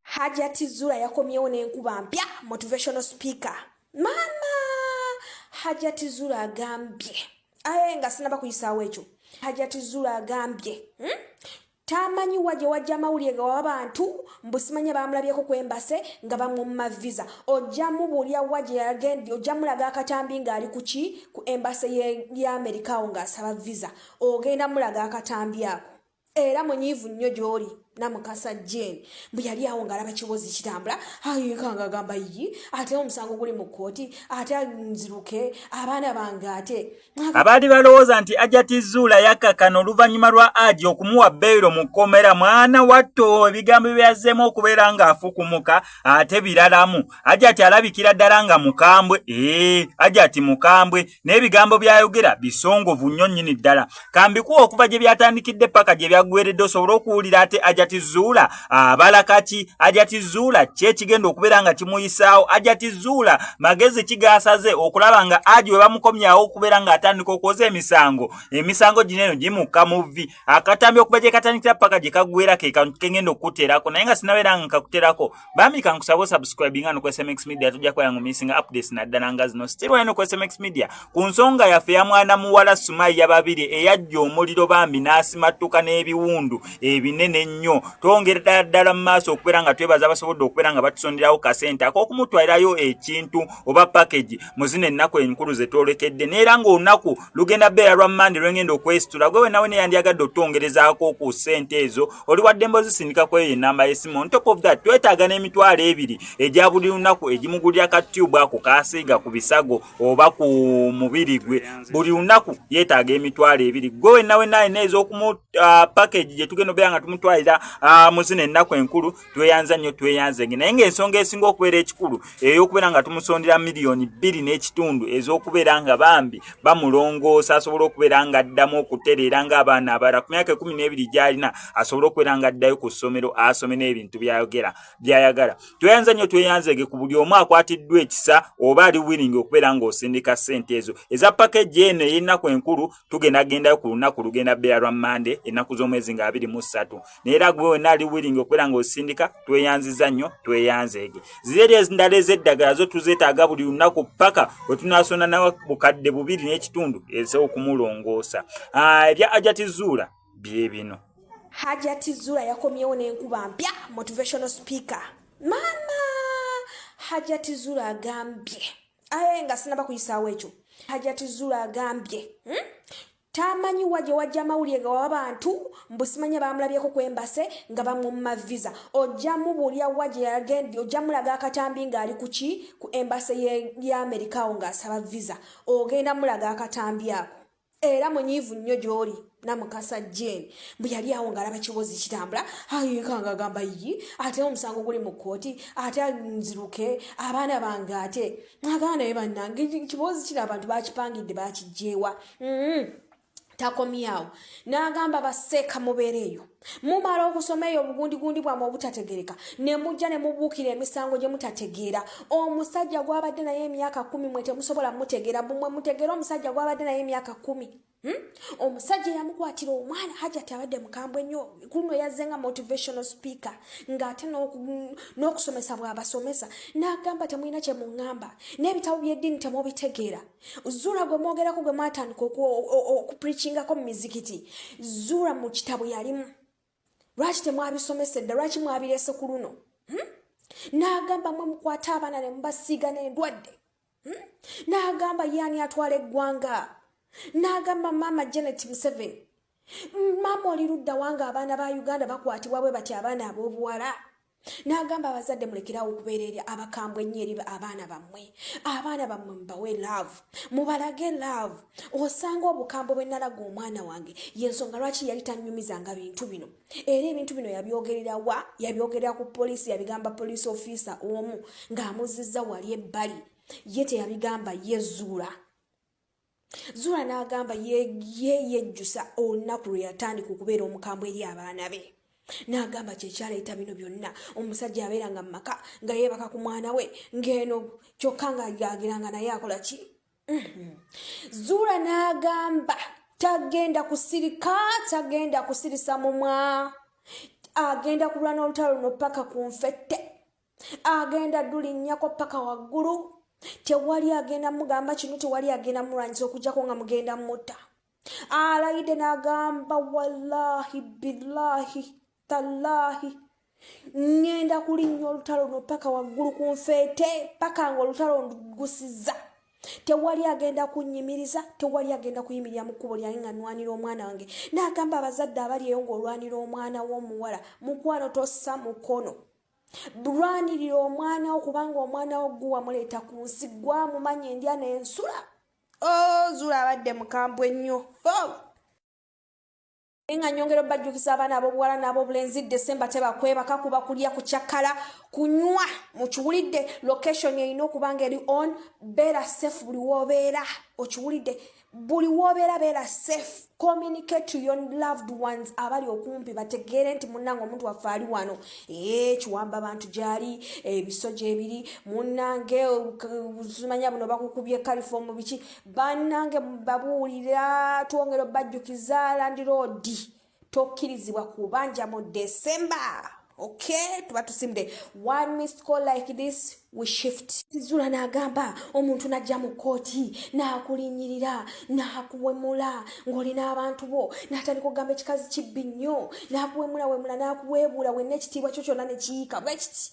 Hajati Zura yakomyewo n'enkuba mpya motivational speaker maama Hajati Zura agambye aye nga sinaba kuyisaawo ekyo Hajati Zura agambye hmm? tamanyi wa gye wajja amawulire ga wabantu mbu simanya bamulabyeko ku embase nga bamumma visa ojja mubuulira wa gye yagendi ojja mulaga akatambi ng'ali ku ki ku embase ya amerika awo ng'asaba visa ogenda mulaga akatambi ako era munyiivu nnyo gy'oli namukasa jane mbu yali awo ng'alaba kibozi kitambula ayekanga agamba yi ate omusango guli mu kkooti ate nziruke abaana bange ate abaali balowooza nti ajati zuula yakakana oluvannyuma lwa aji okumuwa beyiro mu kkomera mwana watto ebigambo byazzeemu okubeera ng'afukumuka ate biralamu ajati alabikira ddala nga mukambwe ee ajati mukambwe n'ebigambo by'ayogera bisongovu nnyo nnyini ddala kambikuwa okuva gye byatandikidde paka gye byaggweredde osobole okuwulira ate ajati zuula abala kaki ajati zuula kyekigenda okubeera nga kimuyisaawo ajati zuula magezi kigasaze okulaba nga aji webamukomyawo okubeera nga atandika okwoza emisango emisango gino eno gimukka muvi akatambi okuba gyekatandikira paka gyekagwera kekantu kengenda okukuterako naye nga sinabeera nga nkakuterako bambi kankusaba osubscribinga nokwesmx media tujja kubeera nga omisinga updates naddala nga zino still wena nokwesmx media Ku nsonga yaffe ya mwana muwala Sumayya Babirye eyajja omuliro bambi n'asimattuka n'ebiwundu ebinene ennyo, twongera ddala ddala mu maaso okubeera nga twebaza abasobodde okubeera nga batusonderawo kasente ak'okumutwalirayo ekintu oba package mu zino ennaku enkulu ze twolekedde neera ng'olunaku lugenda beera lwa mande lwe ngenda okwesitula gwe wenawe ne yandyagadde otutongerezaako ku ssente ezo oli wadde mba ozisindika ku eyo ennamba y'essimu on top of that twetaaga n'emitwalo ebiri egya buli lunaku egimugulira ka tube ako kaasiiga ku bisago oba ku mubiri gwe buli lunaku yeetaaga emitwalo ebiri gwe wenna wenna alina ez'okumu uh, package gye tugenda obeera nga tumutwalira uh, mu zino ennaku enkulu tweyanza nnyo tweyanzenge naye ng'ensonga esinga okubeera ekikulu ey'okubeera nga tumusondera miliyoni bbiri n'ekitundu ez'okubeera nga bambi bamulongoosa asobole okubeera nga addamu okutereera ng'abaana abalala ku myaka ekumi n'ebiri gy'alina asobole okubeera nga addayo ku ssomero asome n'ebintu by'ayogera byayagala tweyanza nnyo tweyanzege ku buli omu akwatiddwa ekisa oba ali wiringi okubeera ng'osindika ssente ezo eza pakeji eno ey'ennaku enkulu tugenda gendayo ku lunaku lugenda beera lwa mande ennaku z'omwezi nga abiri mu ssatu naye era gwe wena ali wiringi okubeera ng'osindika tweyanziza nnyo tweyanzeege zireri endala ez'eddagala zo tuzeetaaga buli lunaku paka we tunaasonda nawa bukadde bubiri n'ekitundu ez'okumulongoosa ah, ebya ajatizuula bye bino hajati zula yakomyewo n'enkuba mpya motivational speaker maama hajati zula agambye aye nga sinaba kuyisaawo ekyo hajati zula agambye hmm? tamanyi wa gye wajja amawulire ga waba bantu mbusimanya bamulabyeko kwembase nga bamumma visa ojja mubuulira wa gye yagendi ojja mulaga akatambi ng'ali ku ki ku embase y'amerikawo ng'asaba visa ogenda mulaga akatambi ako era munyiivu nnyo gy'oli namukasa jane mbu yali awo ngaalaba kibozi kitambula ayekanga agamba yi ate omusango guli mu kkooti ate nziruke abaana bange ate agamba naye bannange kibozi kino abantu bakipangidde bakijjeewa mm-hmm. takomyawo n'agamba baseeka mubeereeyo mumala okusoma eyo obugundigundi bwamwe obutategereka ne mujja ne mubuukira emisango gye mutategeera omusajja gwabadde naye emyaka kumi mwe temusobola mutegeera bumwe mutegeera omusajja gwabadde naye emyaka kumi Hmm? omusajja eyamukwatira omwana hajati abadde mukambwe nnyo kuluno yazze nga motivational speaker ng'ate n'okusomesa bw'abasomesa n'agamba temulina kye muŋŋamba n'ebitabo by'eddiini temubitegeera zuula gwe mwogerako gwe mwatandika okupricingako mu mizikiti zuula mu kitabo yalimu lwaki temwabisomesa edda lwaki mwabirese ku luno hmm? n'agamba mwe mukwate abaana ne mubasiiga n'endwadde hmm? n'agamba yaani atwala eggwanga n'agamba maama janet museveni maama oli ludda wanga abaana ba uganda bakwatibwa bwe bati abaana ab'obuwala n'agamba abazadde mulekerawo okubeera eri abakambwe ennyo eri abaana bammwe abaana bammwe mubawe laavu mubalage laavu osanga obukambwe bwe nalaga omwana wange y'ensonga lwaki yali tannyumizanga bintu bino era ebintu bino yabyogerera wa yabyogerera ku poliisi yabigamba poliisi ofiisa omu ng'amuzizza wali ebbali ye teyabigamba yezuula zuula n'agamba yeyejjusa olunaku lwe yatandika okubeera omukambwe eri abaana be n'agamba kyekyaleeta bino byonna omusajja abeera nga mumaka nga yeebaka ku mwana we ng'eno kyokka ng'agira nga naye akola ki mm-hmm. zuula n'agamba tagenda kusirika tagenda kusirisa mumwa agenda kulwana olutalo luno paka ku nfette agenda dulinnyako paka waggulu tewali agenda mugamba kino tewali agenda mulwanyisa okujjako nga mugenda mutta alayide nagamba wallahi billahi tallahi ŋŋenda kulinnya olutalo no paka waggulu ku nfeete paka nga olutalo ndugusiza tewali agenda kunyimiriza tewali agenda kuyimirira mu kkubo lyange nga nwanira omwana wange naagamba abazadde abali eyo ng'olwanira omwana w'omuwala mukwano tossa mukono bulwanirira omwana wo kubanga omwana wo gwe wamuleeta ku nsi gwamumanya endya nensula ozula oh, abadde mukambwe nnyo oh! nga nyongera obajjukiza abaana abobuwala n'abobulenzi desemba tebakwebaka kuba kulya kucakala kunywa mukiwulidde location erina okuba nga eri on beera safe buli wobeera okiwulidde buli wobeera beera safe communicate to your loved ones abali okumpi bategeere nti munnange omuntu waffe ali wano ee kiwamba bantu gyali ebisoja ebiri munnange zimanya buno bakukubye kalifoomu biki bannange babuulira twongera obajjukiza landiroodi tokkirizibwa kubanja mu december okay tuba tusimde one missed call like this we shift zula nagamba omuntu najja mu kkooti nakulinyirira nakuwemula ng'olina abantu bo natandika okugamba ekikazi kibbi nnyo nakuwemula wemula nakuweebuula wenna ekitiibwa kyo kyonna nekiyiika bwekiti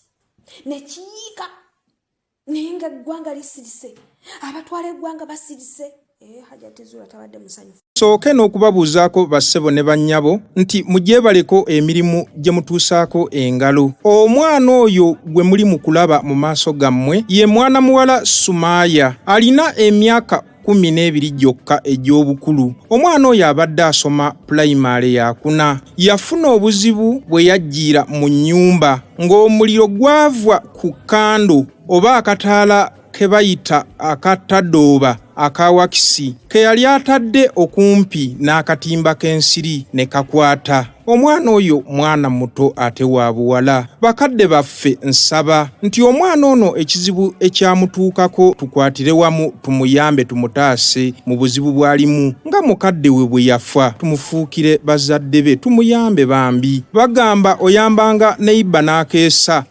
nekiyiika naye nga eggwanga lisirise abatwala eggwanga basirise eh, hajatizula tabadde musanyufu sooke n'okubabuuzaako bassebo ne bannyabo nti mugyebaleko emirimu gye mutuusaako engalo omwana oyo gwe muli mu kulaba mu maaso gammwe ye mwana muwala sumaaya alina emyaka kkumi n'ebiri gyokka egy'obukulu omwana oyo abadde asoma pulayimaale yakuna yafuna obuzibu bwe yajjiira mu nnyumba ng'omuliro gwava ku kando oba akataala ke bayita akatadooba aka wakisi ke yali atadde okumpi n'akatimba k'ensiri ne kakwata omwana oyo mwana muto ate wa buwala bakadde baffe nsaba nti omwana ono ekizibu ekyamutuukako tukwatire wamu tumuyambe tumutaase mu buzibu bw'alimu nga mukadde we bwe yafa tumufuukire bazadde be tumuyambe bambi bagamba oyambanga neiba n'akeesa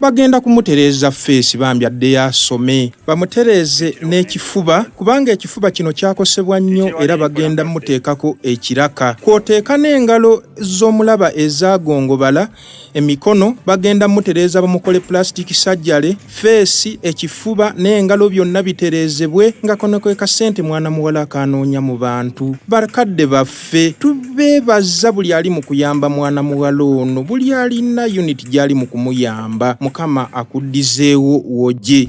bagenda kumutereeza feesi bambi addeyo asome bamutereeze n'ekifuba kubanga ekifuba kino kyakosebwa nnyo era bagenda muteekako ekiraka kwoteeka n'engalo z'omulaba ezagongobala emikono bagenda mutereeza bamukole pulasitiki sajjale feesi ekifuba n'engalo byonna bitereezebwe nga kono kwe kasente mwana muwala akaanoonya mu bantu bakadde baffe ffe tubeebaza buli ali mu kuyamba mwana muwala ono buli alina unit gy'ali mu kumuyamba mukama akuddizeewo woje